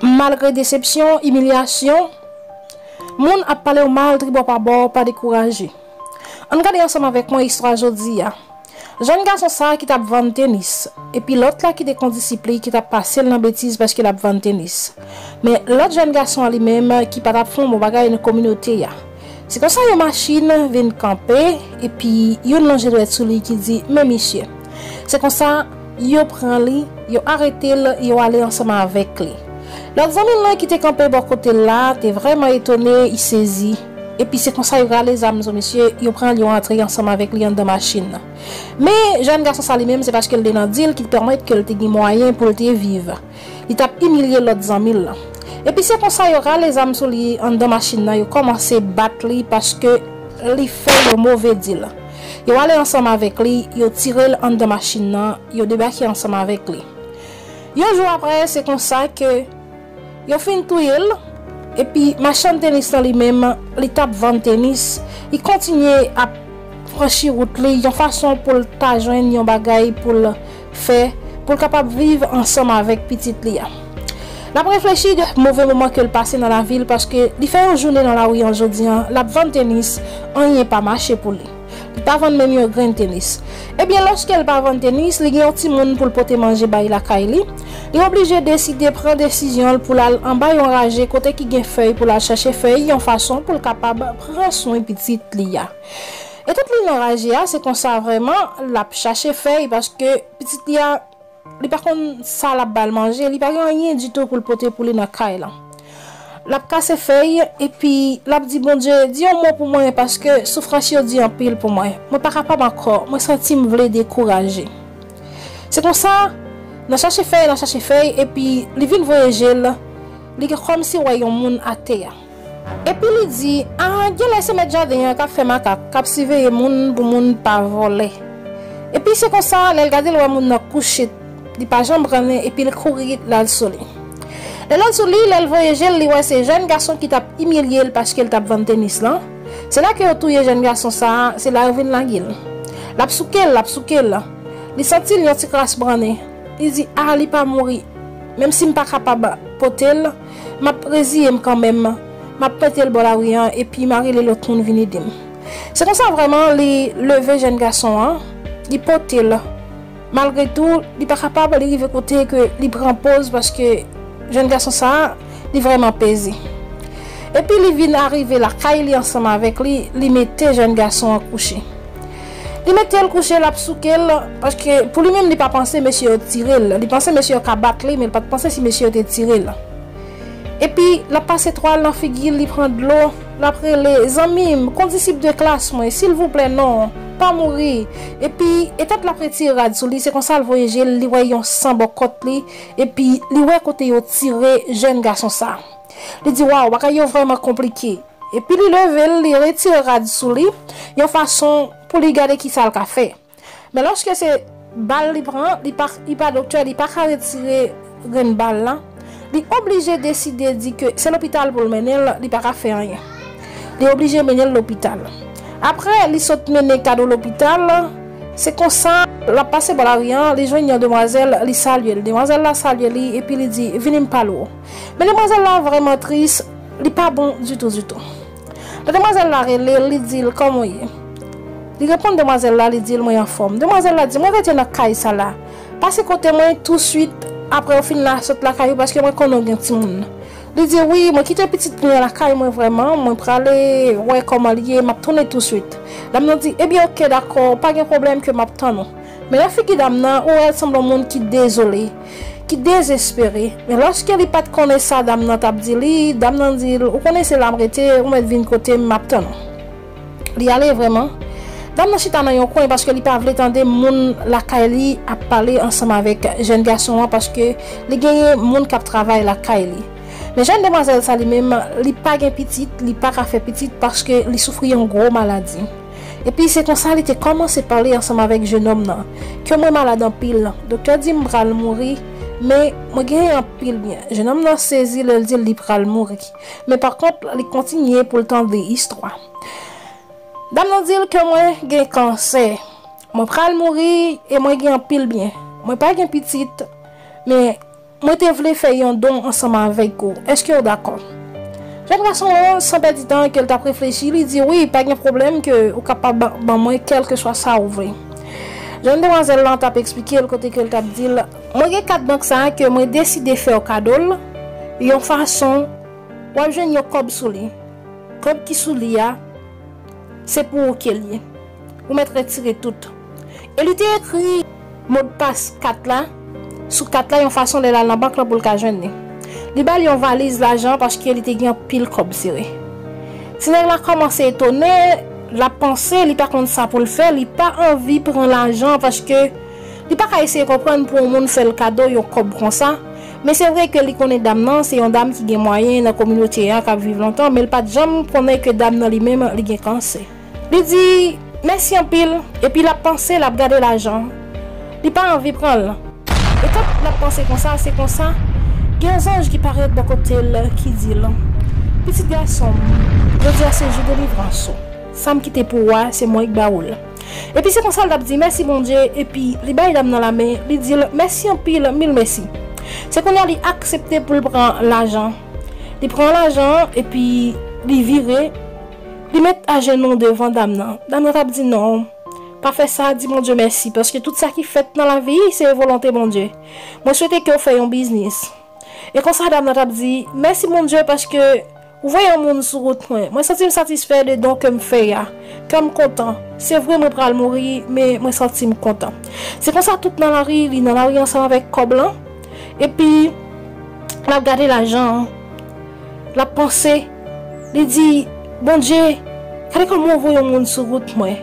Malgre desepsyon, imilyasyon, moun ap pale w mal tribò pa bò, pa dekouraje. Ann gade ansanm avèk mwen istwa jodi a. Jèn gason sa ki t ap vann tenis, epi lòt la ki te kondisip li ki t ap pase l nan betiz paske l ap vann tenis. Men, lòt jèn gason an li menm ki pa t ap fè yon bon bagay nan kominote a. Se konsa yon machin vin kanpe epi youn lonje dwèt sou li ki di men misye. Se konsa yo pran li, yo arete l, yo ale ansanm avèk li. Lòt zanmi l lan ki te kanpe bò kote l la te vrèman etone, y sezi. Epi se konsa yo rale zam sou misye, yo pran l yo antre ansanm avèk li anndan machin nan. Men jèn gason sa li menm se paske l te nan dil ki te pèmèt ke l te gen mwayen pou l te viv. li tap imilye lòt zanmil lan. Epi se konsa yo rale zam sou li anndan machin nan yo kòmanse bat li paske li fè yon move dil. Yo ale ansanm avèk li, yo tirel anndan machin nan, yo debake ansanm avèk li. Yon jou aprè se konsa ke yo fin touyel epi machann tenis lan li menm li tap vann tenis, li kontinye ap franchi wout li yon fason poul ta jwenn yon bagay poul fè pou l kapab viv ansanm avèk pitit li a. N ap reflechi de move moman ke l pase nan lavi l paske li fè yon jounen nan lari an jodi an l ap vann tenis anyen pa mache pou li. Li pa vann menm yon grenn tenis. Ebyen lòske l pa vann tenis li gen yon timoun pou l pote manje bay lakay li, li oblije deside pran desizyon l pou l al anba yon raje kote ki gen fèy pou l al chache fèy yon fason pou l kapab pran swen pitit li a. E tèt li nan raj li a se konsa vrèman lap chache fèy paske pitit li a li pa konn sa lap bal manje li pa gen anyen ditou poul pote pou li nan kay lan lap kase fèy epi lap di Bondye di yon mo pou mwen paske soufrans yo di anpil pou mwen mwen pa kapab ankò mwen santim vle dekouraje se konsa nan chache fèy nan chache fèy epi li vin voye jel li gen kòmsi wè yon moun atè. Epi li di, A, genlè se mèt jaden an k ap fè makak, k ap siveye moun pou moun pa vòlè. Epi se konsa, lè l gade l wè moun nan kouche, li pa janm pran nen, epi l kouri l al sou li. Lè l al sou li, lè l voye je l, li wè se jèn gason ki t ap imilye l paske l t ap vann tenis lan. Se la ke yo touye jèn gason sa a, se la yo vin lage l. L ap souke l, l ap souke l. Li santi l yon ti kras pran nen. Li di, A, li pa mouri. Menmsi m pa kapab pote l. M ap reziye m kanmenm, m ap mete l bò lari an epi m a rele lòt moun vin ede m. Se konsa vrèman li leve jèn gason an, li pote l. Malgre tou, li pa kapab, li rive kote ke li pran poz paske jèn gason sa a, li vrèman peze. Epi li vin arive lakay li ansanm avèk li, li mete jèn gason an kouche. Li metel kouche lap soukel paske pou li menm li pa panse mesye yo t tirel li panse mesye yo ka bat li men l pat panse si mesye yo te tirel epi lap pase twal nan figil li pran dlo lap rele zanmim kondisip de klas mwen silvouplè non pa mouri epi etant lap retire rad sou li se konsal voye jel li wè yon san bò kòt li epi li wè kote yo tire jèn gason sa li di waw bagay yo vrèman konplike. Epi li leve l, li retire rad sou li, yon fason pou li gade ki sa l ka fè. Men lòske se bal li pran, li pa, li pa doktè, li pa ka retire grenn bal la, li oblije deside di ke se lopital pou l mennen l, li pa ka fè anyen. Li oblije mennen l lopital. Apre li sot mennen Kado lopital, se konsa, l ap pase bò lari an, li jwenn yon demwazèl, li salye l. Demwazèl la salye li, epi li di, Vini m pale w. Men demwazèl la vrèman tris. Li pa bon ditou ditou. Lè demwazèl la rele l, li di l, Kòman w ye? Li reponn demwazèl la, li di l, Mwen anfòm. Demwazèl la di, Mwen rete nan kay sa la. Pase kote mwen tousuit apre ou fin la, sot lakay ou paske mwen konnen ou gen timoun. Li di, Wi, mwen kite pitit mwen lakay mwen vrèman, mwen prale wè kòman l ye, m ap tounen tousuit. Dam nan di, Ebyen, oke, dakò, pa gen pwoblèm ke m ap tann ou. Men lè figi dam nan, ou wè l sanble yon moun ki dezole, ki dezespere. Men lòske li pa t konnen sa dam nan t ap di li, dam nan di l, ou konnen se la m rete, ou mèt vin kote m, m ap tann ou. Li ale vrèman. Dam nan chita nan yon kwen paske li pa vle tande moun lakay li ap pale ansanm avèk jèn gason an paske li genyen moun k ap travay lakay li. Men jèn demwazèl sa li menm, li pa gen pitit, li pa ka fè pitit paske li soufri yon gwo maladi. Epi se konsa li te kòmanse pale ansanm avèk jenòm nan, Kè mwen malad anpil, doktè di m pral mouri, men, mwen genyen anpil byen. Jenòm nan sezi lè l di l li pral mouri. Men pakont, li kontinye pou l tande istwa. Dam nan di l, Kè mwen gen kansè. Mwen pral mouri e mwen gen anpil byen. Mwen pa gen pitit, men. Mwen te vle fè yon don ansanm avèk ou. Èske ou dakò? Jèn gason an, san pèdi tan, ke l t ap reflechi, li di, Wi, pa gen pwoblèm, ke ou kapab ban mwen kèlkeswa sa ou vle. Jèn demwazèl lan t ap esplike l kote ke l t ap di l, Mwen gen kat bank sa a ke mwen deside fè ou kado l, yon fason w ap jwenn yon kòb sou li. Kòb ki sou li a, se pou ou ke l ye. Ou mèt retire tout. E li te ekri modpas kat la sou kat la yon fason lè l al nan bank lan pou l ka jwenn li. Li ba l yon valiz lajan paske li te gen anpil kòb sere. Ti nèg la kòmanse etone, l ap panse, li pa konn sa pou l fè, li pa anvi pran lajan an paske li pa ka eseye konprann pou yon moun fè l kado yon kòb konsa. Men se vre ke li konnen dam nan se yon dam ki gen mwayen nan kominote a k ap viv lontan men l pa t janm konnen ke dam nan li menm li gen kansè. Li di, Mèsi anpil, epi l ap panse, l ap gade lajan an. Li pa anvi pran l. Etan l ap panse konsa, se konsa, gen yon zanj ki parèt bò kote l, ki di l, Pitit gason m, jodi a se jou delivrans ou. Sa m kite pou ou a, se mwen k ba ou l. Epi se konsa l t ap di, Mèsi Bondye, epi li bay dam nan lamen, li di l, Mèsi anpil, mil mèsi. Se kounye a li aksepte pou l pran lajan. Li pran lajan an, epi li vire. Li met ajenou devan dam nan. Dam nan t ap di, Non, pa fè sa, di Bondye mèsi, paske tout sa ki fèt nan lavi, se volonte Bondye. Mwen swete ke w fè yon biznis. E konsa dam nan t ap di, Mèsi Bondye, paske ou voye yon moun sou wout mwen. Mwen santi m satisfè de don ke m fè a. Kè m kontan. Se vre mwen pral mouri, men mwen santi m kontan. Se konsa tout nan lari, li nan lari ansanm avèk kòb lan, epi l ap gade lajan an, l ap panse. Li di, Bondye, gade kòman ou voye yon moun sou wout mwen.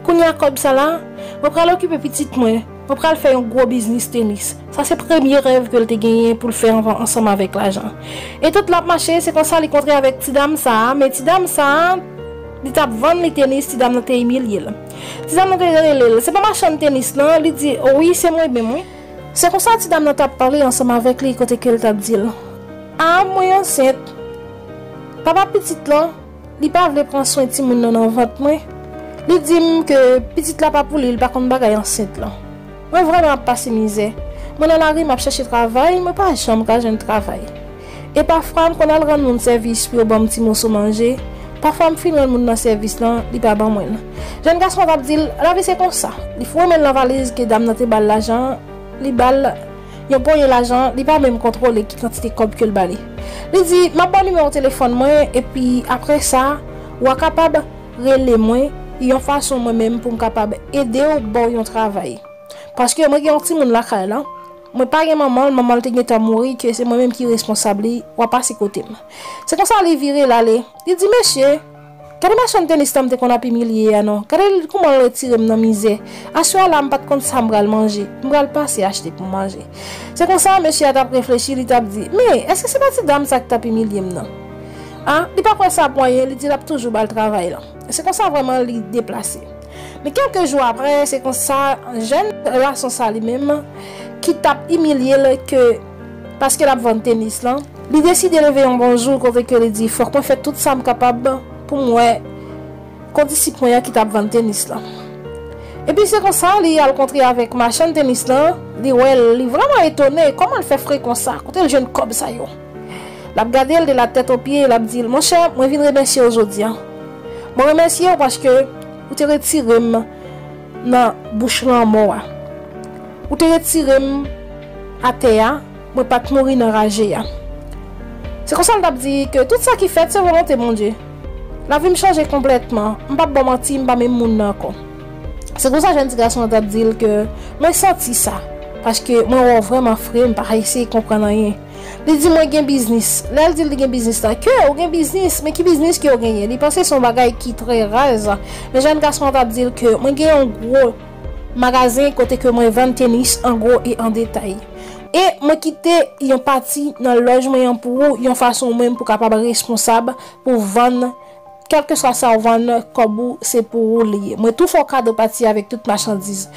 Kounye a kòb sa la, mwen pral okipe pitit mwen, mwen pral fè yon gwo biznis tenis. Sa se premye rèv ke l te genyen pou l fè anvan ansanm avèk lajan. E tout l ap mache, se konsa li kontre avèk ti dam sa a, men ti dam sa a, li t ap vann li tenis, ti dam nan te imilye l. Ti dam nan te rele l, Se pa machann tenis lan? Li di, Wi, se mwen menm wi. Se konsa ti dam nan t ap pale ansanm avèk li kote ke l t ap di l, A, mwen ansent. Papa pitit lan, li pa vle pran swen timoun nan nan vant mwen. Li di m ke pitit la pa pou li, li pa konn bagay ansent lan. Mwen vrèman ap pase mizè. Mwen nan lari m ap chèche travay, mwen pa janm ka jwenn travay. E pafwa m konn al rann moun sèvis pou yo ban m ti moso manje. Pafwa m fin rann moun nan sèvis lan, li pa ban mwen l. Jèn gason an t ap di l, Lavi se konsa. Li foure men l nan valiz ke dam nan te ba l lajan an, li ba l yon ponyen lajan, li pa menm kontwole ki kantite kòb ke l ba li. Li di, M ap ba w nimewo telefòn mwen, epi apre sa, w a kapab rele mwen yon fason mwen menm pou m kapab ede w ba w yon travay. Paske mwen gen yon timoun lakay la. Mwen pa gen manman l, manman l te gentan mouri ke se mwen menm ki responsab li, wa pase kote m. Se konsa li vire, l ale. Li di, Mesye, gade machann tenis tan m te konn ap imilye a non, gade l kouman l retire m nan mizè. Aswè a la m pa t konn sa m pral manje, m pral pase achte pou m manje. Se konsa mesye a t ap reflechi, li t ap di, Men, èske se pa ti dam sa ki t ap imilye m nan? A, li pa kwè sa pou anyen, li di l ap toujou ba l travay lan. Se konsa vrèman li deplase. Men kèlke jou aprè, se konsa, jèn gason sa li menm, ki t ap imilye l ke paske l ap vann tenis lan, li deside leve yon bon jou kote ke li di fòk mwen fè tout sa m kapab pou m wè kondisip mwen an ki t ap vann tenis lan. Epi se konsa li al kontre avèk machann tenis lan, li wè l, li vrèman etone kòman l fè fre konsa, kote l jwenn kòb sa yo. L ap gade l de latèt o pye e l ap di l, Monchè, mwen vin remèsye w jodi a. Mwen remèsye w paske ou te retire m nan bouch lanmò a. Ou te retire m atè a, mwen pa t mouri nan raje a. Se konsa l t ap di ke tout sa ki fèt se volonte Bondye. Lavi m chanje konplètman, m p ap ba w manti, m pa menm moun nan ankò. Se konsa jèn ti gason an t ap di l ke, Mwen santi sa, paske mwen wè w vrèman fre, m pa eseye konprann anyen. Li di mwen gen biznis. Lè l di l li gen biznis la, ke ou gen biznis, men ki biznis ke ou genyen? Li panse se yon bagay ki trè raz. Men jèn gason an t ap di l ke mwen gen yon gwo Magazen kote ke mwen vann tenis an gwo e an detay. E mwen kite yon pati nan lòj mwen an pou ou yon fason ou menm pou kapab responsab pou vann kèlkeswa sa ou vann kòb ou se pou ou li ye. Mwen tou fè w kado pati avèk tout machandiz.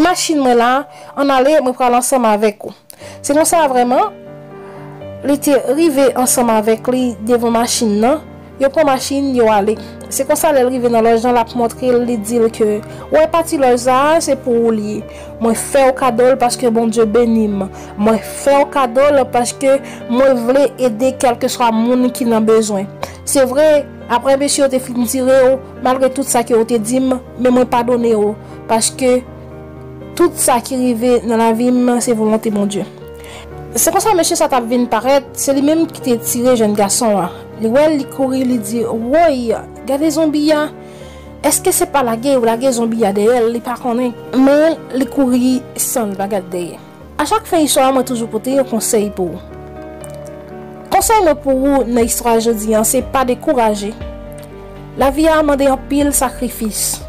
Machin mwen la, an ale mwen pral ansanm avèk ou. Se konsa vrèman, li te rive ansanm avèk li devan machin nan, yo pran machin, yo ale. Se konsa lè l rive nan lòj lan l ap montre l, li di l ke, ou wè pati lòj sa a, se pou ou li ye. Mwen fè w kado l paske Bondye beni m. Mwen fè w kado l paske mwen vle ede kèlkeswa moun ki nan bezwen. Se vre, apre mesye yo te fin tire w, malgre tout sa ke ou te di m, men mwen padone w, paske, Tout sa ki rive nan lavi m se volonte Bondye. Se konsa mesye sa t ap vin parèt, se li menm ki te tire jèn gason an. Li wè l, li kouri, li di, Woy! Gade zonbi a! Èske se pa lage yo lage zonbi a dèyè l, li pa konnen? Men, li kouri san l pa gad dèyè. A chak fen istwa mwen toujou pote yon konsèy pou ou. Konsèy mwen pou ou nan istwa jodi an se pa dekouraje. Lavi a mande anpil sakrifis.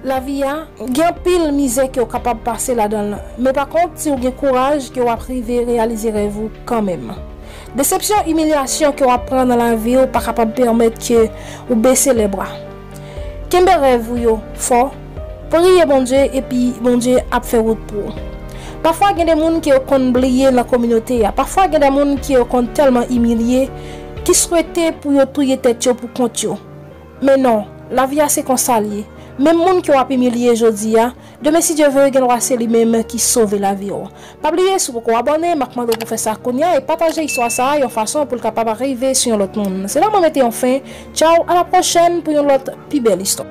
Lavi a, gen anpil mizè ke w kapab pase ladan l, men pa kont si w gen kouraj ke w ap rive reyalize rèv ou kanmenm. Desepsyon, imilyasyon ke w ap pran nan lavi w pa kapab pèmèt ke w bese lèbra. Kenbe rèv ou yo fò, priye Bondye epi Bondye ap fè wout pou ou. Pafwa gen de moun ke yo konn bliye nan kominote a, pafwa gen de moun ke yo konn tèlman imilye ki swete pou yo touye tèt yo pou kont yo, Men non, lavi a se konsa l ye. Menm moun ke w ap imilye jodi a, demen si Dye ve gen dwa se li menm ki sove lavi w. Pa bliye si w poko abòne, m ap mande w pou w fè sa kounya e pataje istwa sa a yon fason pou l kapab arive sou yon lòt moun. Se la mwen mete yon fen, tchaw, alapwochèn pou yon lòt pi bèl istwa.